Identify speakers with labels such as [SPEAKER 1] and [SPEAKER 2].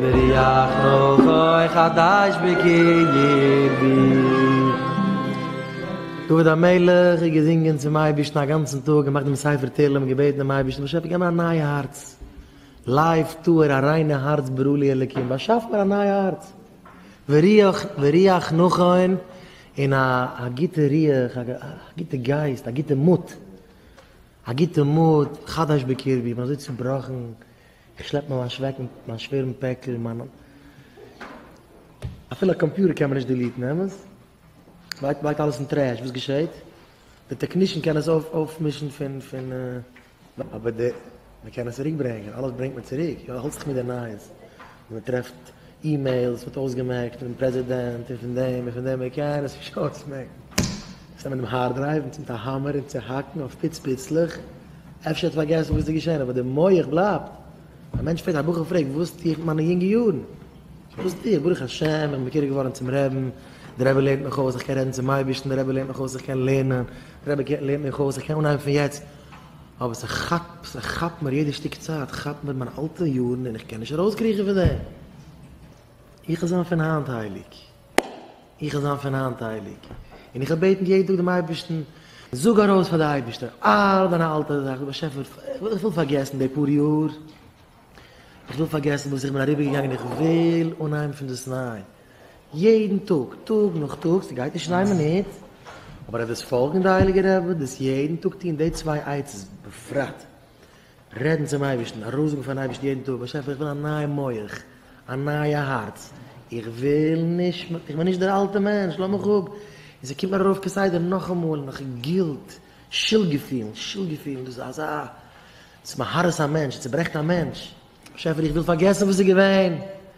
[SPEAKER 1] וריח רוחו חדש בקרבי. דוד המלך האט געזינגען צום אייבערשטן א גאנצן טאג, געמאכט דעם ספר תהלים, געבעטן דעם אייבערשטן, באשעפער געב מיר א נייע הארץ, לב טהור א ריינע הארץ ברא לי אלקים, באשאף מיר א נייע הארץ, וריח וריח נכון, און א א גוטע ריח, א גוטע גייסט, א גוטע מוט, א גוטע מוט, חדש בקרבי, איך בין אזוי צובראכן, איך שלעפ מיין לאנטש אוועק מיט מיין שווערן פעקל און מיין אפילו א קאמפיוטער קען מען נישט דיליטן, אמת? בלייבט בלייבט אלעס אין טרעש, וואס געשעהט? די טעקנישן קען עס אויף אויפמישן פון פון. אבער די. מען קען עס צוריקברענגען, אלעס ברענגט מען צוריק, יא האלט זיך מיט די נייעס, ווען מען טרעפט אימעילס ווערט אויסגעמעקט פון פרעזידענט און פון דעם און פון דעם אקעי עס איז אויסגעמעקט עס נעמען דעם הארד דרייוו און צינדט א האמער און צוהאקן אויף פיץ פיצלעך אפשר האט פארגעסן וואס איז געשען אבער די מח בלייבט א מענטש פרעגט א בחור פרעגט וואס טו איך מיט מיינע יונגע יארן וואס טו איך ברוך השם איך בין מקורב געווארן צום רעבן דער רבי לערנט מיך אויס איך קען רעדן צום אייבערשטן דער רבי לערנט מיך אויס איך קען לערנען דער רבי לערנט מיך אויס איך קען אנהייבן פון יעצט אבער ס'כאפט ס'כאפט מיר יעדע שטיק צייט כאפט מיר מיינע אלטע יארן און איך קען נישט ארויסקריכן פון דעם. איך וויל זיין פון היינט הייליג. איך וויל זיין פון היינט הייליג. און איך וויל בעטן יעדן טאג דעם אייבערשטן, זאג ארויס פאר די אייבערשטער אלע דיינע אלטע זאכן, באשעפער איך וויל פארגעסן די פאר יאר. איך וויל פארגעסן וואס איך בין אריבערגעגאנגען איך וויל אנהייבן פונדאסניי יעדן טאג טאג נאך טאג ס'גייט נישט אין איין מינוט אבער אט דאס פאלגן די הייליגע רבי דאס יעדן טאג טון די צוויי עצות בפרט רעדן צום אייבערשטן ארויסזאגן פארן אייבערשטן יעדן טאג באשעפער איך וויל א נייע מח א נייע הארץ איך וויל נישט איך בין נישט דער אלטע מענטש לאז מיך אפ און ס'קומט מיר ארויף כסדר נאכאמאל נאך גילט שולד געפילן שולד געפילן דאס איז אזא ס'מהרס א מענטש, ס'צוברעכט א מענטש. באשעפער איך וויל פארגעסן וואס איז געווען.